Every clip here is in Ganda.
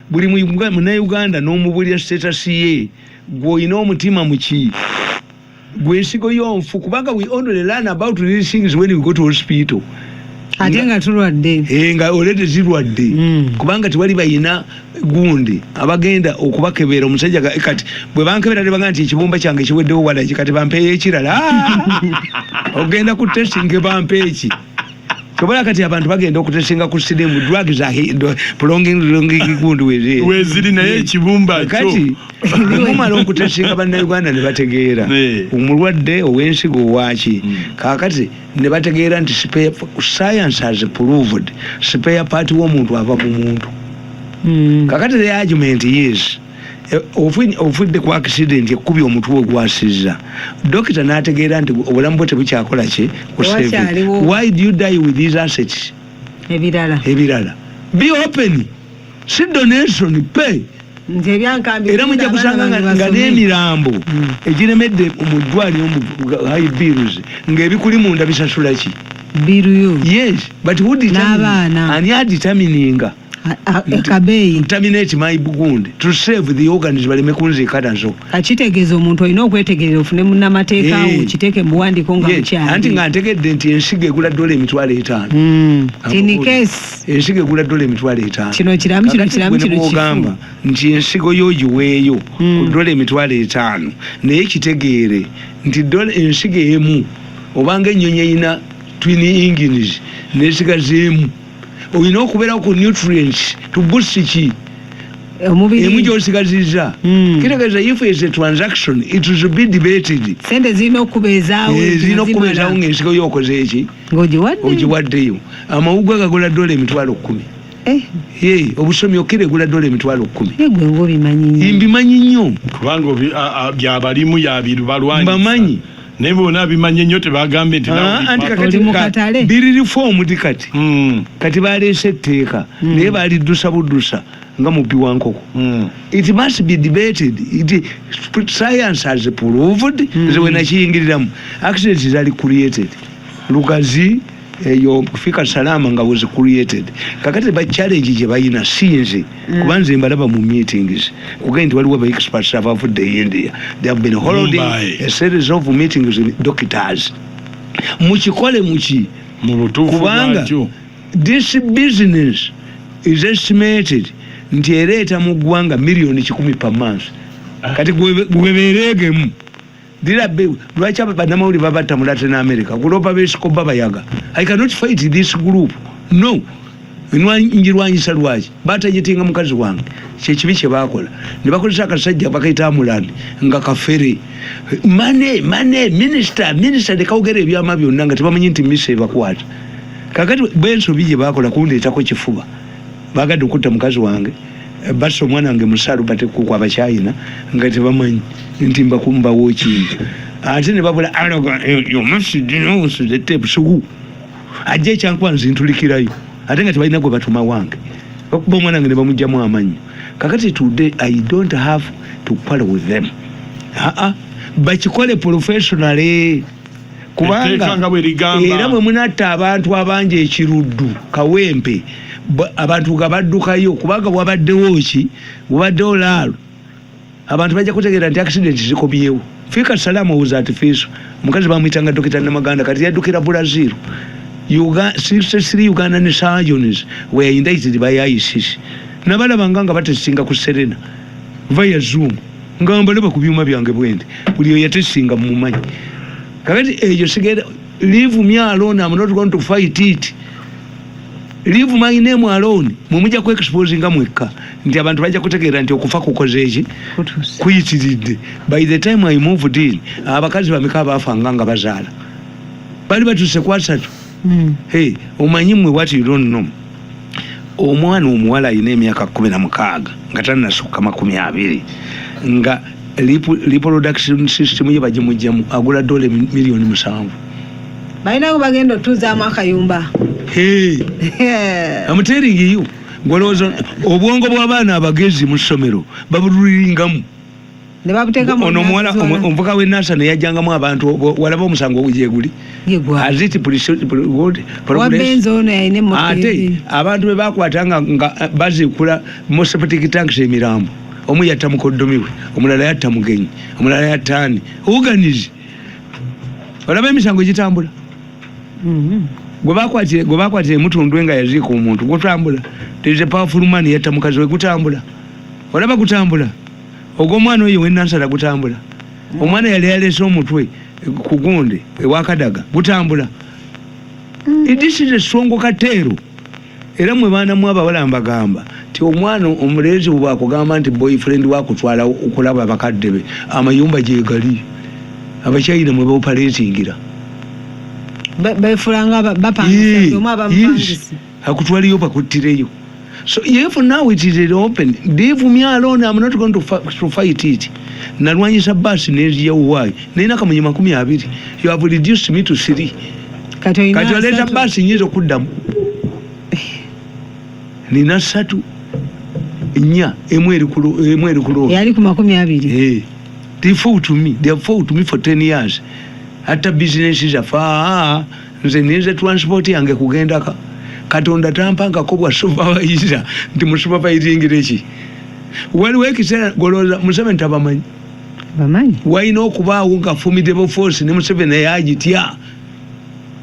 buli munauganda nomubulira status ye gweolina omutima muki gwensigo yonfu kubanga we only learn about these things when we go to hospital ate nga tulwadde eh, nga olete zirwadde hmm. kubanga tewali bayina gundi abagenda okubakebera omusajja kati bwe bankebera ne bagamba nti ekibumba kyange kiweddewo walaki kati bampeeyo ekirala ogenda ku testing bampeeki Kyobola kati abantu bagenda okutesinga ku sirimu drug za pulongingundu weziri naye ekibumba kati mumala okutesinga bannayuganda ne bategeera omulwadde ow'ensigo owaki hmm. kakati ne bategeera nti science has proved sipeya paati w'omuntu ava mu muntu hmm. kakati the argument is Eh, ovudde ku akisidenti ekkubya omutwe ogwasizza dokita n'ategeera nti obulamu bwe tebukyakola ki why do you die with these assets ebirala ebirala be open si donation pay era mujja kusanga nga n'emirambo hmm. egiremedde mu ddwaliro mu high bills ng'ebikuli munda bisasula ki biruyo yes but who determine n'abaana ani adetermininga kabeeyi ntaminate my bugunde to save the organs baleme kunziika nazo akitegeeza omuntu olina okwetegerera ofune munamateeka wo eh. kiteeke mubuwandiiko nga mukyali anti nga ntegedde nti ensigo egula dola emitwalo etaano hmm. tinikesi ensigo egula dola emitwalo etaano kino kiramu kino kiramu kino kigamba nti ensigo yo giweeyo ku hmm. dola emitwalo etaano naye kitegeere nti dola ensigo emu obanga ennyonyi erina twini engines nesigaza emu olina okubeerawo ku nutrients tubusi ki emu gyosigaziza hmm. kitegeeza if is a transaction it is be debated sente zirina okubeezaawo eh, zirina okubeezaawo ngaensigo yokoze eki ogiwaddeyo amawugwe gagola dola emitwalo kumi eh. eh, obusomi okira egula dola emitwalo kumi mbimanyi nnyo kubanga byabalimu yabirubalwanyisa mbamanyi naye bona abimanye nnyo tebagambye nti ah, anti kakati biri reform di kati hmm. kati baleese etteeka hmm. naye baliddusa buddusa nga mubbi wa nkoko hmm. it must be debated it science has proved nze wenakiyingiriramu accident zali created lugazi eyo kufika salama nga was created kakati ba challenge gye balina sinze mm. kuba nze mbalaba mu meetings kugenda nti waliwo ba experts abavudde e india they have been holding a series of meetings in doctors mukikole muki kubanga this business is estimated nti ereeta mu ggwanga miliyoni kikumi per month ah. kati gwebeereegemu Dira be lwaki abanamawuli babatta mu Latin America kulopa besikoba bayaga I cannot fight this group no njirwanyisa lwaki batajetinga mukazi wange kyekibi kyebakola nebakozesa akasajja bakaita amulandi nga kafere mane mane minisita minisita nekawogera ebyama byonna nga tebamanyi nti misa ebakwata kakati bensobi gyebakola kundeetako kifuba bagadde okutta mukazi wange Eh, basa omwana wange musalu batekuku abakyayina nga tebamanyi nti mbakumbawo ekintu ate nebabula aloga eh, yomasidinowusidetebusugu ajja ekyankuba nzintulikirayo ate nga tebalina gwe batuma wange bakuba omwana wange nebamugjamu amanyi kakati today i don't have to quarrel with them aa bakikole professionally kubanga era mwe munatta abantu abangi ekiruddu kawempe abantu nga baddukayo kubanga wabaddewo ki wabaddewo laalo abantu bajja kutegeera nti accident zikomyewo fiika salaamu owuza ati fiiso omukazi bamuyitanga dokita namaganda kati yaddukira brazil 63 uganda ne sajones weyaindaitiri bayayisisi nabalabanga nga batesinga ku serena via zoom nga mbalaba ku byuma byange bwendi buli oyatesinga mumumanyi kakati eyo sigenda leave me alone am not going to fight it leave my name alone mumuja ku expose nga mwekka nti abantu bajja kutegeera nti okufa kukoze eki kuyitiridde by the time i moved in abakazi bameka abafanga nga bazaala bali batuse kwasatu hmm. hey omanyi mwe what you don't know omwana omuwala alina emyaka kumi na mukaaga nga tanasukka makumi abiri nga reproduction system ye bagimugjamu agula dola miliyoni musanvu balinawo bagenda otuuzaamu akayumba amuteringiyo gwalowooza obwongo bw'abaana abagezi mu ssomero babululingamu ono omuwala omuvuka we nasa neyajangamu abantu walaba omusango gyeguli ate abantu bebakwata nga bazikula moseptic tanks emirambo omu yatta mukoddomi we omulala yatta mugenyi omulala yatta ani oganize olaba emisango gitambula mm-hmm. gwebakwatira emutundwe nga yaziika omuntu gutambula there is a powerful man yatta mukazi we gutambula olaba gutambula ogw'omwana oyo wenansala gutambula mm. omwana yali yalese omutwe ku gundi ewakadaga gutambula mm. idisize esongo kateero era mwe baana mu abawala mbagamba nti omwana omulenzi bwakugamba nti boyfriend wakutwala okulaba bakadde be amayumba gyegali abakyayina mwe baopaletingira befulanga bapangisa akutwaliyo bakuttireyo so if now it is open leave me alone am not going to, fa to fight it nalwanyisa basi neziyawowayo naye nakamunye makumi abiri you have reduced me to three kati oleeta basi nyinza okuddamu nina satu nya emu eri kuloo yali ku makumi abiri hey. Eh. they fought me they have fought me for 10 years atta business zaffe nze ninze transport yange kugendaka katonda tampankako bwa supervisor nti musupervisingira eki waliwo ekiseera golooza museveni tabamanyi bamanyi walina okubaawo nga formidable force ne museveni eyo agitya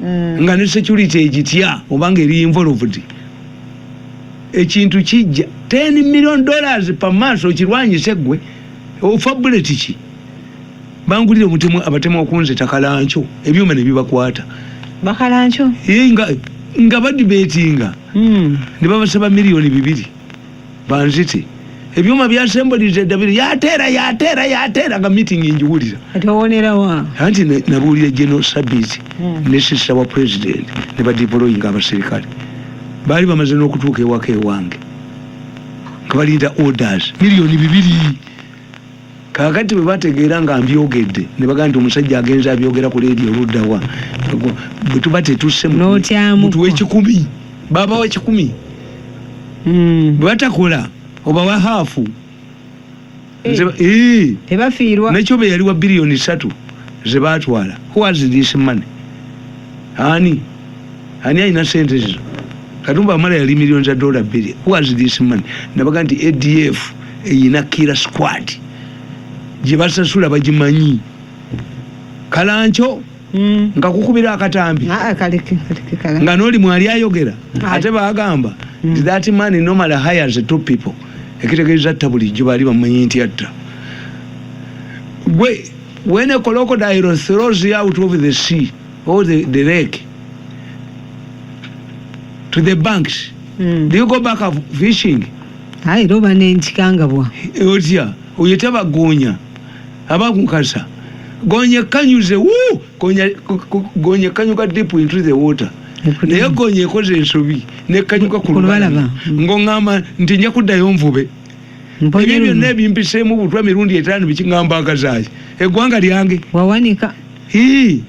mm. nga ne security egitya obanga eri involved ekintu kijja 10 million dollars pa maaso okirwanyise gwe ofabuleti ki bangulire omutemu abatemu okunze takalancho ebyuma ne bibakwata bakalancho ee nga nga badi betinga mm. ne babasaba milioni bibiri banzite ebyuma byasembolize dabiri yatera yatera yatera nga meeting injiwulira atowonera wa anti nabulira geno sabiti mm. ne sisa wa president ne badipoloyinga abaserikale bali bamaze nokutuuka ewaka ewange nga balinda orders milioni bibiri Kaakati bwe bategeera nga mbyogedde, ne bagamba nti, Omusajja agenze abyogera ku leediyo ludda wa? Bwe tuba tetusse, mutuwe ekikumi. Babawa ekikumi. Hmm. Bwe batakola, obawa haafu. Eh. Eh. Tebafiirwa. Nekyo be yali wa biliyoni ssatu ze baatwala. Who has this money? Ani? Ani alina sente zizo? Katumba Wamala yali miliyoni za dola bbiri. Who has this money? Nabaga nti ADF. eyina kira squad gyebasasula bagimanyi kalanco mm. nga kukubira akatambi ah, ah, nga noli mwali ayogera ah. ate bagamba mm. that man normally hires two people ekitegeeza atta bulijjo baali bamanyi nti atta gwe when a crocodile throws you out of the sea or the, the lake to the banks mm. do you go back fishing aye era oba nenkikangabwa otya oyo taba goonya aba kukasa goonya ekkanyuze wu goonya ekkanyuka deep into the water naye goonya ekoze ensobi nekkanyuka ku lubalaba ngongamba nti nja kuddayo nvube ebyo byonna ebimpiseemu butwa mirundi etaano bikiŋamba akazaayi eggwanga lyange wawanika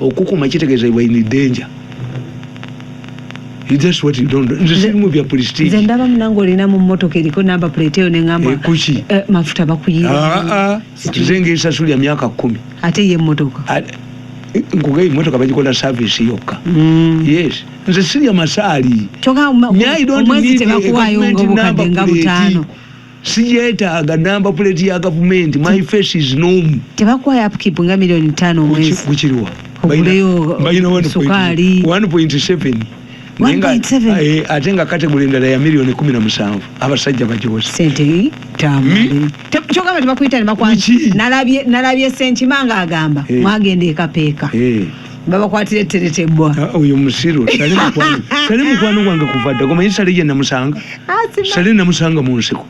okukuma kitegeeza iwe in danger that's what you don't do nze sirimu bya prestige nze ndaba munange olina mu mmotoka eriko namba plate eyo nengamba eh, kuki eh, mafuta bakuyiira ah, ah. nze ngesasulya myaka kumi ate ye mmotoka ah, nkuga emotoka bagikola service yokka mm. yes nze sirya masaali kyoka omwezi tebakuwayo nga obukadde nga butaano sijetaaga namba puleti ya gavumenti my face is nom tebakuwayo upkeep nga miliyoni ttaano omwezi kukiriwa oguleyo sukaali 1.7 eh, ate nga kategole endala ya miliyoni kumi na musanvu abasajja bajosekyogamba nalabye senkima nga agamba eh. mwagenda ekapeeka eh. babakwatira etteretebwa ah, oyo musiru sali mukwano gwange kuva dda gomanyi sali ye namusanga ah, sali namusanga mu nsiko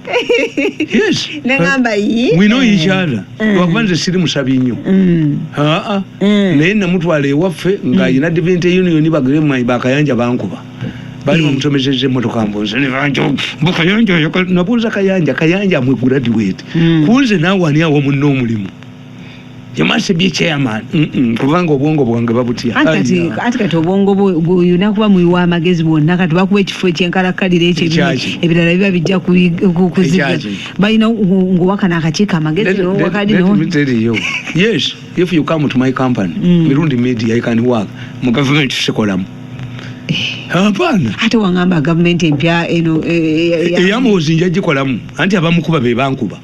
wino yikyala lwakuba nze siri musabi nnyo mm. aa mm. naye namutwala ewaffe ng'ayina mm. divinte union bagere mumanyi bakayanja bankuba bali bamutomezeza emotoka mbunze nebanjobukayanja nabuuza kayanja kayanja amwe graduate kunze naawe ani awo munna omulimu yamwase bye chairman kubanga obwongo bwange babutya ati kati obwongo buyina kuba muyiwa amagezi bwonna kati bakuba ekifo ekyenkalakkalira ekyo ebirala biba bijja kuziga balina ngowakana akakiiko amagezi nowakalinoteriyo yes if you come to my company mm. mirundi media i can work mu government sikolamu hapana eh. ate wangamba gavumenti empya eno eh, eh, eyamuwozi njagikolamu anti abamukuba bebankuba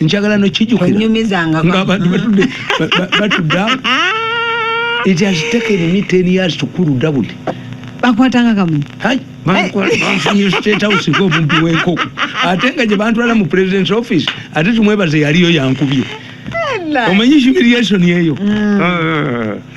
njagala nokijukira nga abantu batudde batudde it has taken me 10 years to cool down bakwatanga kamu hai banfunye state house ko bumbi weko ate nga je bantu ala mu president's office ate tumwebaze yaliyo yankubye omanyi humiliation yeyo mm. ah, ah, ah,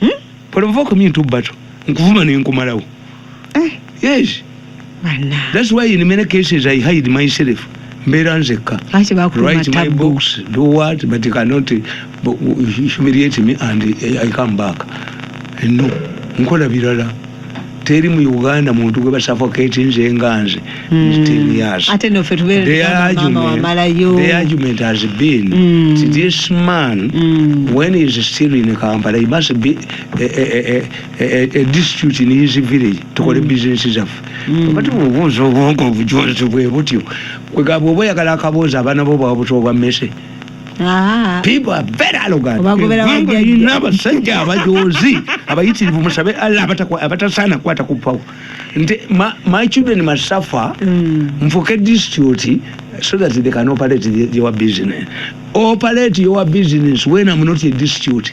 hmm? provoke me into battle nkuvuma nenkumalawo eh. yes that's why in many cases i hide myself mbeera nzekka write my books do what but you cannot humiliate me and i come back no nkola birala teri mu uganda muntu gwe basafoketi nze nga nze argument has been mm. this man mm. when he is still in kampala he must be a, a, a, a, a district in his village tukole mm. business zaffe mm. but bubuuza obwongo obujonzi bwe butyo kwegamba oba oyagala akaboozi abaana bo bwabuta obwa mmese Ah, people are very arrogant Obagobera eggwanga bajjajja. lirina abasajja abajoozi abayitirivu musabe allah abatakwa- abatasaana kukwata ku power nti ma- my children must suffer mm. nfuke district so that they can operate the- your business operate your business when i'm not a district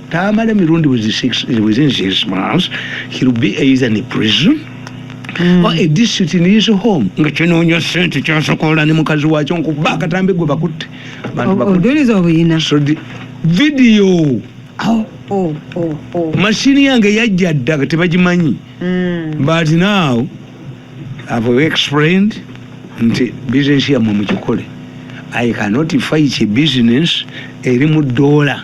Tamale Mirundi within six, within six months, he'll be either in prison mm. or a district in his home. Nga kinoonya sente kyasokola ne mukazi wakyo nkuba akatambi gwe bakutte. Bantu bakutte. Oduliza obuyina. So the video. Oh, oh, oh, oh. Mashini yange yajja dda tebagimanyi. Mm. But now I've explained nti business yamwe mugikole. I cannot fight a business eri mu dollar.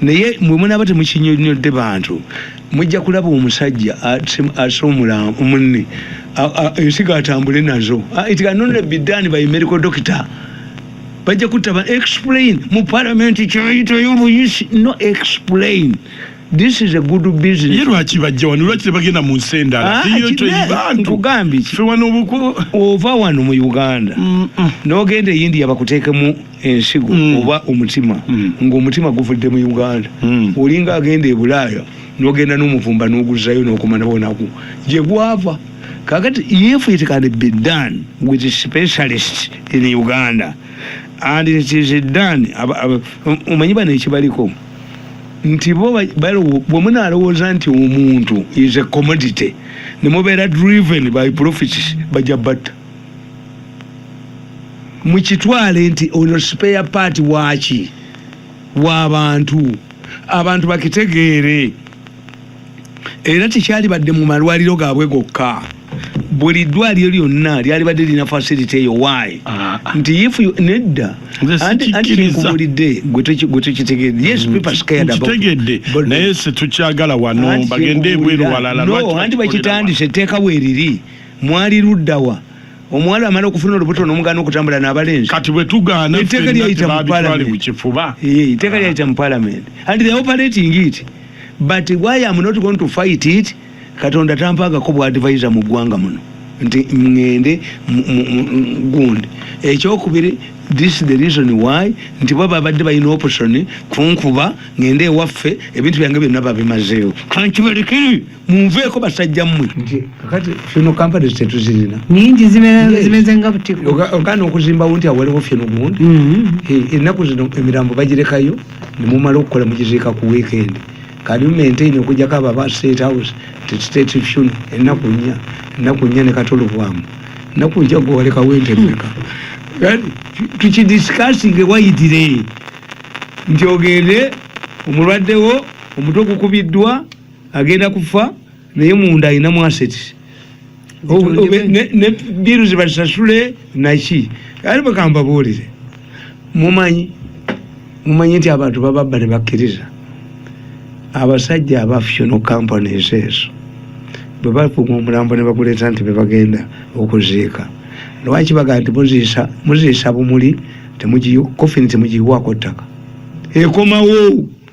naye mwe munaaba temukinyonyodde bantu mujja kulaba omusajja ase omulamu munne ensigo atambule nazo it can only be done by medical doctor bajja kutaba explain mu parliament kyoyitayo obuyisi no explain this is a good business ye lwaki bajja wano lwaki tebagenda mu nsi endala ah, iyo toyibantu nkugambye fe wano obuku ova wano mu uganda mm -mm. nogenda eyindiya bakuteekemu ensigo mm. oba omutima mm. ngaomutima guvudde mu uganda mm. olinga agenda ebulaaya nogenda nomuvumba noguzayo nokumana bonaku gyegwava kakati if it can be done with specialist in uganda and it is done omanyi bano ekibaliko nti bo bwemunalowooza nti omuntu is a commodity nemubeera driven by profits bajja batta mukitwale nti ono spare part waaki wabantu abantu bakitegeere era tekyalibadde mu malwaliro gaabwe gokka buli ddwaliro lyonna lyalibadde lirina facility eyo wayi ah, ah. nti if nedda antinkubulidde gwetukitegeedde yes mm, people scared aboutegedde naye setukyagala wano bagende ebweru walala no anti bakitandise etteeka weeriri mwali ludda wa omuwala amala okufuna olubuto n'omugaana okutambula n'abalenzi kati bwe tugaana etteeka lyayita mu palamenti eh, etteeka ah. lyayita mu palamenti and the operating it but why am not going to fight it katonda tampaagako bwa advisor mu ggwanga muno nti ŋŋende gundi ekyokubiri this the reason why nti bo babadde balina option kunkuba ŋŋende ewaffe ebintu byange byonna babimazeewo kankibalekere munveeko basajja mmwe nti kakati funeral companies tetuzirina nyingi zibe- Yes. zimeze nga butiko Oga- ogana okuzimbawo nti awaliwo fye nogundi Mhm. Eh, ennaku zino emirambo bagirekayo nemumala okukola mugiziika ku weekend kati maintain okujjako abo aba state house nti state funeral ennaku nnya ennaku nnya ne katolobwamu ennaku nja gwe walekawo ente mmeka kati tukidisikasinge wayitire nti ogende omulwaddewo omutwe gukubiddwa agenda kufa naye munda alina mu assets Obe- obe- ne- ne biru zibasasule naki ali bakambabuulire mumanyi mumanyi nti abantu bababba ne bakkiriza abasajja aba fusional companies ezo bwe bakuuma omulambo ne baguleeta nti bebagenda okuziika lwaki bagaa nti muziisa muziisa bumuli temugiyu- kofini temugiyiwaako ttaka ekomawo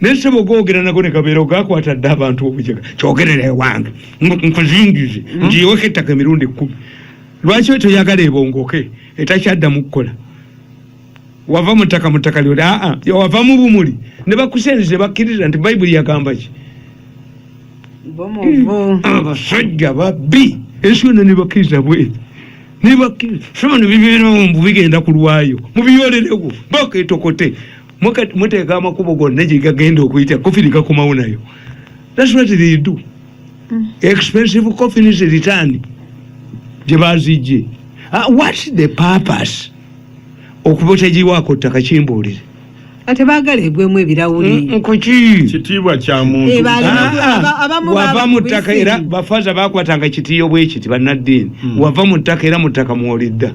naye ssebo googera nago ne gabeera ogakwata dde abantu obujega kyogerera ewange ngu- nkuzingize ngiyiweko ettaka emirundi ekkumi lwaki we toyagala ebongoke etakyaddamu kukola wava mu ttaka mu ttaka lyoli aa wava mu bumuli ne bakusenzi ne bakkiriza nti bayibuli yagamba ki bomuvu abasajja babbi ensi yonna nebakkiriza bwe nebakkiriza sono bibeerawo mbu bigenda kulwayo mubiyolerewo baketokote muteeka amakubo gonna gyegagenda okuyita kofini gakomawo nayo thats what they do mm. expensive coffins return gyebazijje ah, what the purpose okuba otagiwaako ttaka kimbuulire ate bagala egwemu ebirawuli mm, mm, kuki kitiibwa kya muntu eh, ah, ah. wava mu ttaka era bafaza bakwatanga kitiyo bwekiti bannaddiini wava mu ttaka era mu ttaka mwolidda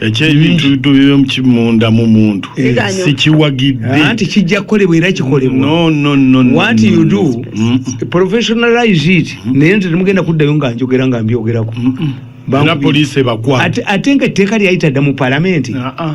ekyebintu munda mu muntu eh, sikiwagidde anti kijja kukolebwa era kikolebwawat you do professionalize it naye nti temugenda kuddayo nga njogera nga mbyogerako era poliisi ebakwate ate nga etteeka lyayita dda mu palamenti ah, ah.